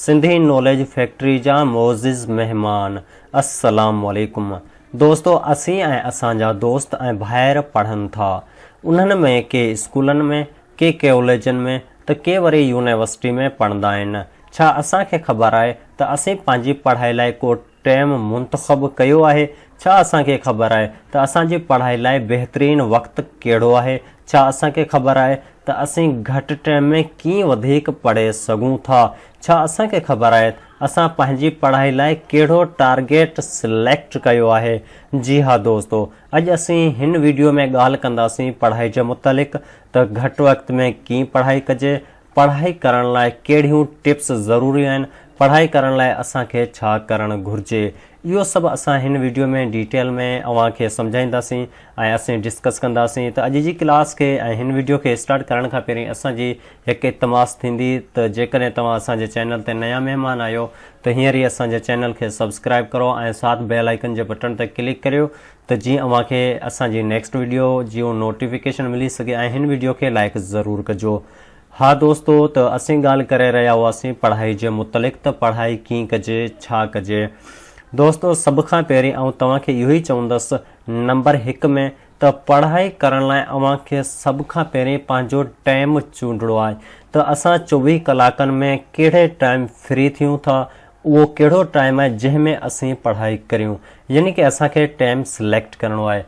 Sindhi knowledge factory جا معزز مهمان السلام عليڪم دوستو اسين ۽ اسان جا دوست ۽ ڀائر پڙهن ٿا انهن ۾ ڪي اسڪولن ۾ ڪي ڪيوليجن ۾ ته ڪي وري يونيورسٽي ۾ پڙهندا آهن ڇا اسان کي خبر آهي ته اسين پنهنجي پڙهائي لاء ڪو ٽيم منتخب ڪيو آهي؟ ڇا اسان کي خبر آهي ته اسان جي پڙهائي لاء بهترين وقت ڪهڙو آهي؟ ڇا اسان کي خبر آهي ته اسين گهٽ ٽيم ۾ ڪيئن وڌيڪ پڙهي سگهون ٿا؟ ڇا اسان کي خبر آهي اسان پنهنجي پڙهائي لاء ڪهڙو ٽارگيٽ سليڪٽ ڪيو آهي؟ جي ها دوستو، اڄ اسين هن وڊيو ۾ ڳالهه ڪنداسين پڙهائي جي متعلق ته گهٽ وقت ۾ ڪيئن پڙهائي ڪجي پڙهائي ڪرڻ لاء ڪهڙيون ٽپس ضروري آهن، پڙهائي ڪرڻ لاء اسان کي ڇا ڪرڻ گهرجي، اهو سڀ اسان هن وڊيو ۾ ڊيٽيل ۾ اوهان کي سمجهائينداسين ۽ اسين ڊسڪس ڪنداسين ته اڄ جي ڪلاس کي ۽ هن وڊيو کي اسٽارٽ ڪرڻ کان پهرين اسان جي هڪ التماس ٿيندي ته جيڪڏهن توهان اسان جي چينل تي نيا مهمان آهيو ته هينئر ئي اسان جي چينل کي سبسڪرائب ڪرو ۽ ساٿ بيل آئيڪن جي بٽڻ تي ڪلڪ ڪريو ته جيئن اوهان کي اسان جي نيڪسٽ ويڊيو جيون نوٽيفڪيشن ملي سگهي ۽ هن ويڊيو کي لائيڪ ضرور ڪجو ها دوستو ته اسين ڳالهه ڪري رهيا هئاسين پڙهائي جي متعلق ته پڙهائي ڪين ڪجي ڇا ڪجي دوستو سڀ کان پهرين آئون توهان کي اهو ئي چوندس نمبر هڪ ۾ ته پڙهائي ڪرڻ لاء اوهان کي سڀ کان پهرين پنهنجو ٽائيم چونڊڻو آهي ته اسان چوويهه ڪلاڪن ۾ ڪهڙي ٽائيم فري ٿيون ٿا اهو ڪهڙو ٽائيم آهي جنهن ۾ اسين پڙهائي ڪريون يعني ڪه اسان کي ٽائيم سليڪٽ ڪرڻو آهي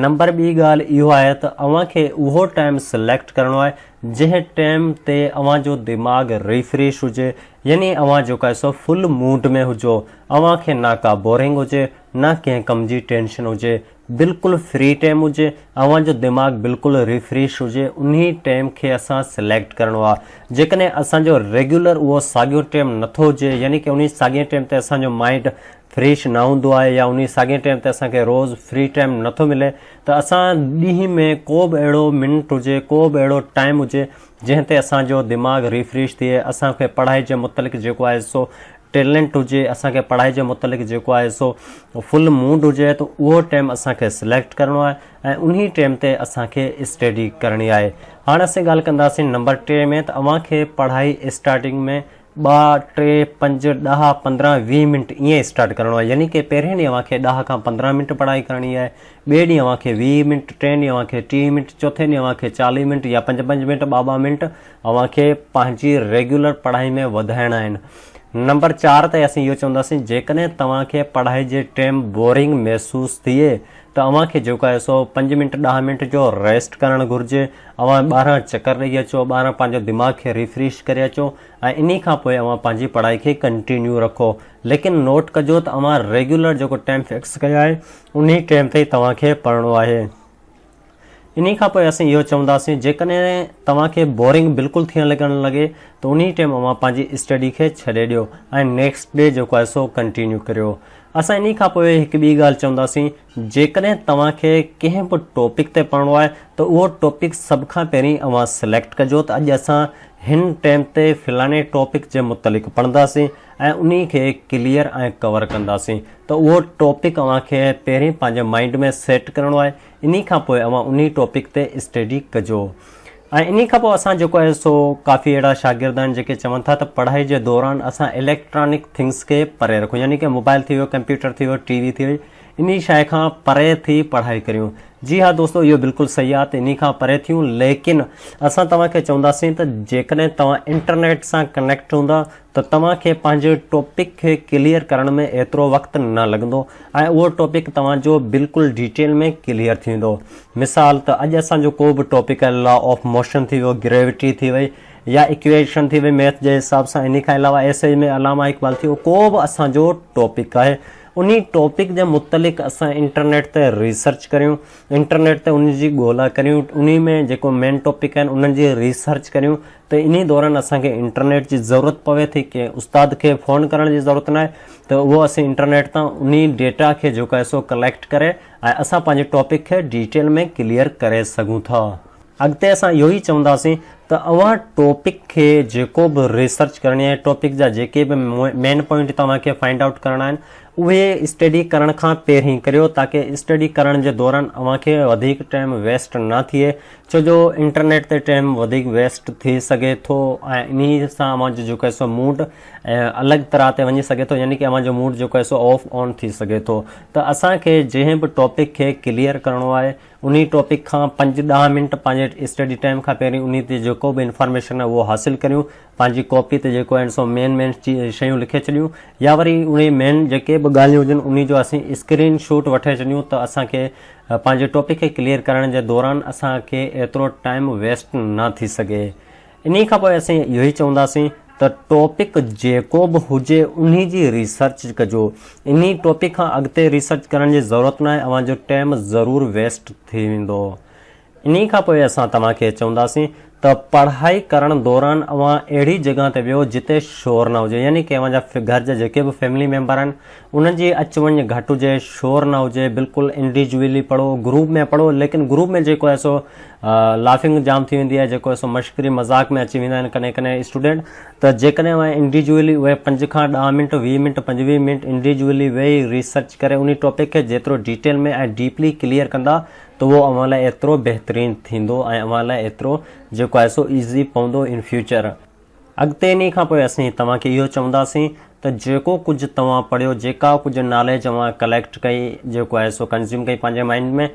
نمبر ٻي ڳالهه اهو آهي ته اوهان کي اهو ٽائيم سليڪٽ ڪرڻو آهي جنهن ٽائيم تي اوهان جو دماغ ريفريش هجي يعني اوهان جيڪو آهي سو فل موڊ ۾ هجو اوهان کي نه ڪا بورنگ هجي نه ڪنهن ڪم جي ٽينشن هجي بلڪل فري ٽيم هجي اوهان جو دماغ بلڪل ريفريش هجي انهي ٽيم کي اسان سليڪٽ ڪرڻو آ جيڪڏهن اسان جو ريگيولر اهو ساڳيو ٽيم نٿو هجي يعني ڪه انهي ساڳي ٽيم تي اسان جو مائنڊ فريش نه هوندو آهي يا انهي ساڳي ٽيم تي اسان کي روز فري ٽيم نٿو ملي ته اسان ڏينهن ۾ ڪو به اهڙو منٽ هجي ڪو به اهڙو ٽيم هجي جنهن تي اسان جو دماغ ريفريش ٿئي اسان کي پڙهائي جي متعلق جيڪو آهي سو ٽيلنٽ هجي اسان کي پڙهائي جي متعلق جيڪو آهي سو فل موڊ هجي ته اهو ٽيم اسان کي سليڪٽ ڪرڻو آهي ۽ انهي ٽيم تي اسان کي اسٽيڊي ڪرڻي آهي هاڻ اسين ڳالهه ڪنداسين نمبر ٽي ۾ ته اوهان کي پڙهائي اسٽارٽنگ ۾ ٻه ٽي پنج ڏهه پندرهن ويهه منٽ ائين اسٽارٽ ڪرڻو آهي يعني ڪي پهرين ڏينهن اوهان کي ڏهه کان پندرهن منٽ پڙهائي ڪرڻي آهي ٻئي ڏينهن اوهان کي ويهه منٽ ٽئين ڏينهن اوهان کي ٽيهه منٽ چوٿين ڏينهن اوهان کي چاليهه منٽ يا پنج پنج منٽ ٻه ٻه منٽ اوهان کي پنهنجي ريگيولر پڙهائي ۾ وڌائڻا آهن. نمبر چار تي اسين اهو چونداسين جيڪڏهن توهان کي پڙهائي جي ٽيم بورنگ محسوس ٿئي ته اوهان کي جيڪو آهي سو پنج منٽ ڏهه منٽ جو ريسٽ ڪرڻ گهرجي. اوهان ٻاهران چڪر ڏئي اچو، ٻاهران پنهنجو دماغ کي ريفريش ڪري اچو ۽ انهي کان پوء اوهان پنهنجي پڙهائي کي ڪنٽينيو رکو. ليڪن نوٽ ڪجو ته اوهان ريگيولر جيڪو ٽيم فڪس ڪيو آهي انهي ٽيم تي ئي توهان کي پڙهڻو آهي. انهي کان پوء اسين اهو چونداسين جيڪڏهن توهان کي بورنگ بلڪل ٿيڻ لڳڻ لڳي ته انهي ٽيم اوهان پنهنجي اسٽڊي کي ڇڏي ڏيو ۽ نيڪسٽ ڊي جيڪو آهي سو ڪنٽينيو ڪريو. اسان انهي کان پوء هڪ ٻي ڳالهه چونداسين جيڪڏهن توهان کي ڪنهن به ٽاپڪ تي پڙهڻو آهي ته اهو ٽاپڪ سڀ کان پهرين اوهان سليڪٽ ڪجو ته اڄ اسان هن ٽيم تي فلاڻي ٽاپڪ جي متعلق پڙهنداسين ۽ انهي کي ڪليئر ۽ ڪور ڪنداسين ته اهو ٽاپڪ اوهان کي پهرين پنهنجي مائنڊ ۾ سيٽ ڪرڻو آهي انهي کان پوء اوهان انهي ٽاپڪ تي اسٽيڊي ڪجو ۽ انهي کان پوء اسان جيڪو آهي سو ڪافي اهڙا شاگرد آهن جيڪي چون ٿا ته پڙهائي جي دوران اسان اليڪٽرانڪ ٿنگس کي پري رکون يعني ڪي موبائل ٿي ويو ڪمپيوٽر ٿي ويو ٽي وي ٿي وئي انهي شاي کان پري ٿي پڙهائي ڪريون جي ها دوستو اهو بلڪل صحيح آهي ته انهي کان پري ٿيون ليڪن اسان توهان کي چونداسين ته جيڪڏهن توهان انٽرنيٽ سان ڪنيڪٽ هوندا ته توهان کي پنهنجي ٽاپڪ کي ڪليئر ڪرڻ ۾ ايترو وقت نه لڳندو ۽ اهو ٽاپڪ توهان جو بلڪل ڊيٽيل ۾ ڪليئر ٿيندو. مثال ته اڄ اسان جو ڪو به ٽاپڪ لا آف موشن ٿي ويو، گريوٽي ٿي وئي يا اڪويشن ٿي وئي ميٿ جي حساب سان انهي کان علاوه ايسيز ۾ علامه اقبال ٿي ويو ڪو به اسان جو ٽاپڪ آهي انهي ٽاپڪ جي متعلق اسان انٽرنيٽ تي ريسرچ ڪريون انٽرنيٽ تي انهي جي ڳولا ڪريون انهي ۾ جيڪو مين ٽاپڪ آهن انهن جي ريسرچ ڪريون ته انهي دوران اسان کي انٽرنيٽ جي ضرورت پوي ٿي ڪنهن استاد کي فون ڪرڻ جي ضرورت ناهي ته اهو اسين انٽرنيٽ تان انهي ڊيٽا کي جيڪو آهي سو ڪليڪٽ ڪري ۽ اسان پنهنجي ٽاپڪ کي ڊيٽيل ۾ ڪليئر ڪري سگهون ٿا. اڳتي اسان اهو ئي چونداسين ته اوهان ٽاپڪ کي جيڪو به ريسرچ ڪرڻي آهي ٽاپڪ جا جيڪي به مين پوائنٽ توهان کي فائنڊ آئوٽ ڪرڻا آهن اهي اسٽڊي ڪرڻ کان پهرين ڪريو تاڪه اسٽڊي ڪرڻ جي دوران اوهان کي وڌيڪ ٽائيم ويسٽ نه ٿئي ڇو جو انٽرنيٽ تي ٽيم وڌيڪ ويسٽ ٿي سگهي ٿو ۽ انهي سان اوهان جو جيڪو سو موڊ الڳ طرح تي وڃي سگهي ٿو يعني ڪي اوهان جو موڊ جيڪو سو آف آن ٿي سگهي ٿو ته اسان کي جنهن به ٽاپڪ کي ڪليئر ڪرڻو آهي انهي ٽاپڪ کان پنج ڏهه منٽ پنهنجي اسٽڊي ٽيم کان پهرين انهي تي جيڪو به انفارميشن اهو حاصل ڪريون پنهنجي ڪاپي تي جيڪو آهن سو مين مين شيون لکي ڇڏيون يا وري انهي مين جيڪي به ڳالهيون هجن انهي جو اسين اسڪرين شوٽ وٺي ڇڏيون ته اسان کي پنهنجي ٽوپڪ کي ڪليئر ڪرڻ جي دوران اسان کي ايترو ٽائيم ويسٽ نه ٿي سگهي. انهي کان پوء اسين اهو ئي چونداسين ته ٽوپڪ جيڪو به هجي انهي جي ريسرچ ڪجو. انهي ٽوپڪ کان اڳتي ريسرچ ڪرڻ جي ضرورت ناهي، اوهان جو ٽيم ضرور ويسٽ ٿي ويندو. انهي کان پوء اسان توهان کي چونداسين ته پڙهائي ڪرڻ دوران اوهان اهڙي جڳهه تي ويهو جتي شور نه هجي يعني ڪي اوهان جا گهر جا جيڪي به فيملي ميمبر آهن انهن جي اچ وڃ گهٽ هجي شور نه هجي بلڪل انڊيجويلي پڙهو گروپ ۾ پڙهو ليڪن گروپ ۾ جيڪو آهي سو لافنگ جام ٿي ويندي آهي جيڪو آهي سو مشڪري مذاق ۾ اچي ويندا آهن ڪڏهن ڪڏهن اسٽوڊنٽ ته جيڪڏهن اوهان انڊيجويلي اهي پنج کان ڏهه منٽ ويهه منٽ پنجويهه منٽ انڊيجويلي ويهي ريسرچ ڪري انهي ٽاپڪ کي جيترو ڊيٽيل ۾ ۽ ڊيپلي ڪليئر ڪندا ته اهو اوهان لاء ايترو بهترين ٿيندو ۽ اوهان لاء ايترو جيڪو آهي سو ايزي پوندو ان فيوچر. اڳتي انهي کان پوء اسين توهان کي اهو چونداسين ته جيڪو ڪجهه توهان پڙهيو، جيڪا ڪجهه ناليج اوهان ڪليڪٽ ڪئي، جيڪو آهي سو ڪنزيوم ڪئي پنهنجي مائنڊ ۾،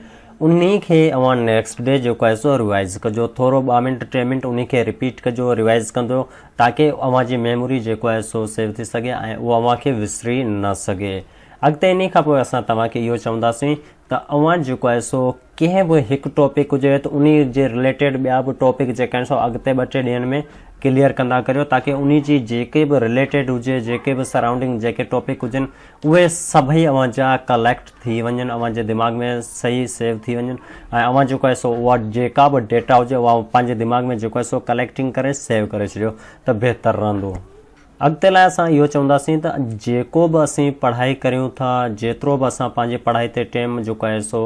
انهي کي اوهان نيڪسٽ ڊي جيڪو آهي سو ريوائز ڪجو، ٿورو ٻه منٽ ٽي منٽ انهي کي رپيٽ ڪجو، ريوائز ڪندو تاڪه اوهان جي ميموري جيڪو آهي سو سيو ٿي سگهي ۽ اهو اوهان کي وسري نه سگهي. اڳتي انهي کان پوء اسان توهان کي اهو چونداسين ته اوهان جيڪو آهي سو ڪنهن به هڪ ٽاپڪ هجي ته انهي جي رليٽيڊ ٻيا به ٽاپڪ جيڪا آهن سو اڳتي ٻه ٽي ڏينهن ۾ ڪليئر ڪندا ڪريو تاڪه انهي جي جيڪي به رليٽيڊ هجي جيڪي به سرائونڊنگ جيڪي ٽاپڪ هجن اهي سڀئي اوهان جا ڪليڪٽ ٿي وڃن اوهان جي دماغ ۾ صحيح سيو ٿي وڃن ۽ اوهان جيڪو آهي سو اها جيڪا به ڊيٽا هجي اها پنهنجي دماغ ۾ جيڪو آهي سو ڪليڪٽنگ ڪري سيو ڪري ڇڏيو ته بهتر رهندو. اڳتي لاء اسان اهو چونداسين ته جيڪو به اسين پڙهائي ڪريون ٿا، جيترو به اسان پنهنجي پڙهائي تي ٽيم جيڪو آهي سو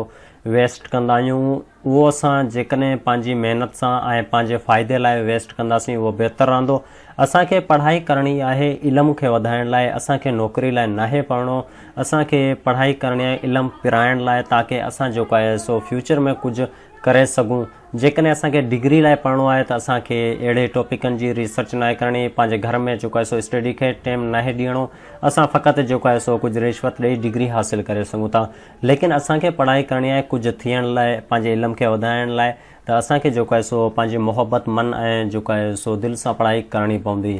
ويسٽ ڪندا آهيون، اهو اسان جيڪڏهن پنهنجي محنت سان ۽ پنهنجي فائدي لاء ويسٽ ڪنداسين اهو بهتر رهندو. اسان کي پڙهائي ڪرڻي آهي علم کي وڌائڻ لاء، اسان کي نوڪري لاء ناهي پڙهڻو، اسان کي پڙهائي ڪرڻي آهي علم پرائڻ لاء تاڪه اسان جيڪو آهي سو فيوچر ۾ ڪجهه ڪري سگهون. جيڪڏهن اسان کي ڊگري لاء پڙهڻو آهي ته اسان کي اهڙي ٽاپڪن جي ريسرچ ناهي ڪرڻي، پنهنجي گهر ۾ جيڪو آهي سو اسٽڊي کي ٽيم ناهي ڏيڻو، اسان فقط جيڪو آهي سو ڪجهه رشوت ڏئي ڊگري حاصل ڪري سگهون ٿا، ليڪن اسان کي پڙهائي ڪرڻي آهي ڪجهه ٿيڻ لاء، پنهنجي علم کي وڌائڻ لاء ته اسان کي جيڪو آهي سو پنهنجي محبت من ۽ جيڪو آهي سو دل سان پڙهائي ڪرڻي پوندي.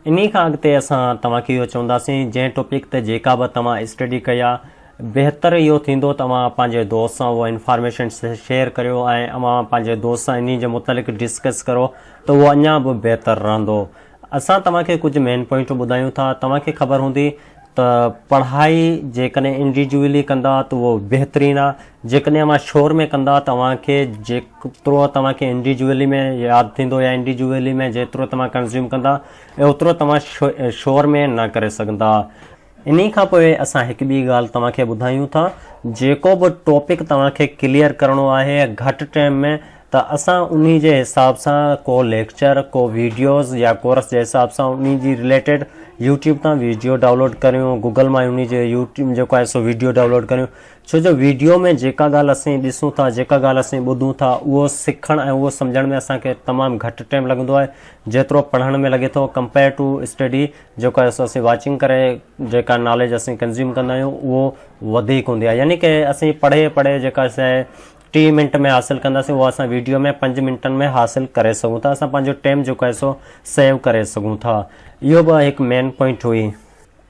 انهي کان اڳتي اسان توهان کي اهو چونداسين جنهن ٽوپڪ تي جيڪا به توهان اسٽڊي ڪئي آهي بهتر اهو ٿيندو ته اوهان پنهنجي دوست سان اهو انفارميشن شيئر ڪريو ۽ اوهان پنهنجي دوست سان انهي جي متعلق ڊسڪس ڪرو ته اهو اڃان به بهتر رهندو اسان توهان کي ڪجهه مين پوائنٽون ٻڌايون ٿا توهان کي خبر هوندي ته پڙهائي جيڪڏهن انڊيجوئلي ڪندا ته اهو بهترين آ جيڪڏهن اوهان شور ۾ ڪندا ته اوهان کي جيترو توهان کي انڊيجوئلي ۾ ياد ٿيندو يا انڊيجوئلي ۾ جيترو توهان ڪنزيوم ڪندا اوترو توهان شور ۾ نه ڪري سگهندا انهي کان پوء اسان هڪ ٻي ڳالهه توهان کي ٻڌايون ٿا جيڪو به ٽاپڪ توهان کي ڪليئر ڪرڻو آهي گهٽ ٽيم ۾ ته اسان انهي جي حساب سان ڪو ليڪچر، ڪو ويڊيوز يا ڪورس جي حساب سان انهي جي رليٽيڊ يوٽيوب تان ويڊيو ڊائونلوڊ ڪريون، گوگل مان انهي جي يوٽيوب جيڪو آهي سو ويڊيو ڊائونلوڊ ڪريون، ڇو جو ويڊيو ۾ جيڪا ڳالهه اسين ڏسون ٿا، جيڪا ڳالهه اسين ٻڌون ٿا اهو سکڻ ۽ اهو سمجهڻ ۾ اسان کي تمام گهٽ ٽيم لڳندو آهي، جيترو پڙهڻ ۾ لڳي ٿو ڪمپيئر ٽو اسٽڊي جيڪو آهي سو اسين واچنگ ڪري جيڪا ناليج اسين ڪنزيوم ڪندا آهيون اهو وڌيڪ هوندي آهي يعني ڪه اسين پڙهي پڙهي جيڪا سي ٽي منٽ ۾ حاصل ڪنداسين اهو اسان ويڊيو ۾ پنج منٽن ۾ حاصل ڪري سگهون ٿا اسان پنهنجو ٽيم جيڪو آهي سو سيو ڪري سگهون ٿا اهو به هڪ مين پوائنٽ هئي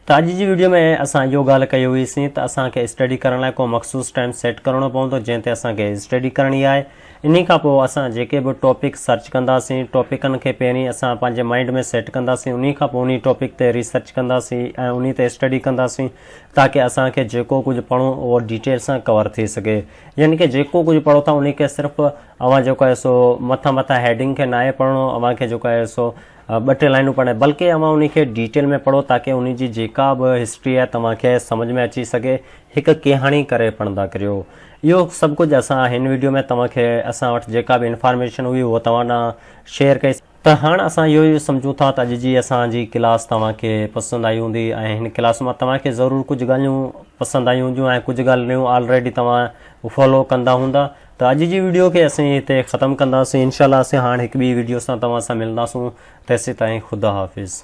ته اڄ جي ويڊيو ۾ اسان اهو ڳالهه ڪئي هئي سين ته اسان کي اسٽڊي ڪرڻ لاء ڪو مخصوص ٽيم سيٽ ڪرڻو پوندو جنهن تي اسان کي اسٽڊي ڪرڻي آهي انهي کان پوء اسان جيڪي به ٽاپڪ سرچ ڪنداسين ٽاپڪن کي پهرين اسان پنهنجي مائنڊ ۾ سيٽ ڪنداسين انهي کان پوء انهي ٽاپڪ تي ريسرچ ڪنداسين ۽ انهي تي اسٽڊي ڪنداسين تاڪه اسان کي جيڪو ڪجهه پڙهون اهو ڊيٽيل سان ڪور ٿي سگهي يعني ڪه جيڪو ڪجهه پڙهو ٿا انهي کي صرف اوهان جيڪو آهي سو مٿان مٿان هيڊنگ کي ناهي پڙهڻو اوهان کي جيڪو آهي سو ٻه ٽي لائنون پڙهڻ بلڪه اوهان انهي کي ڊيٽيل ۾ پڙهو تاڪه انهي جي جيڪا به هسٽري آهي توهان کي سمجهه ۾ اچي سگهي هڪ ڪهاڻي ڪري پڙهندا ڪريو اهو سڀ ڪجهه اسان هن ويڊيو ۾ توهان کي اسان وٽ جيڪا به انفارميشن هئي اهو توهان ڏانهن شيئر ڪئي ته هاڻ اسان اهو ئي سمجهون ٿا ته اڄ جي اسان جي ڪلاس توهان کي پسند آئي هوندي ۽ هن ڪلاس مان توهان کي ضرور ڪجهه ڳالهيون پسند آيون هونديون ۽ ڪجهه ڳالهريون آلريڊي توهان فالو ڪندا هوندا ته اڄ جي ويڊيو کي اسين هتي ختم ڪنداسين انشاء الله اسين هاڻ هڪ ٻي ويڊيو سان توهان سان ملنداسون تيسيتائين خدا حافظ.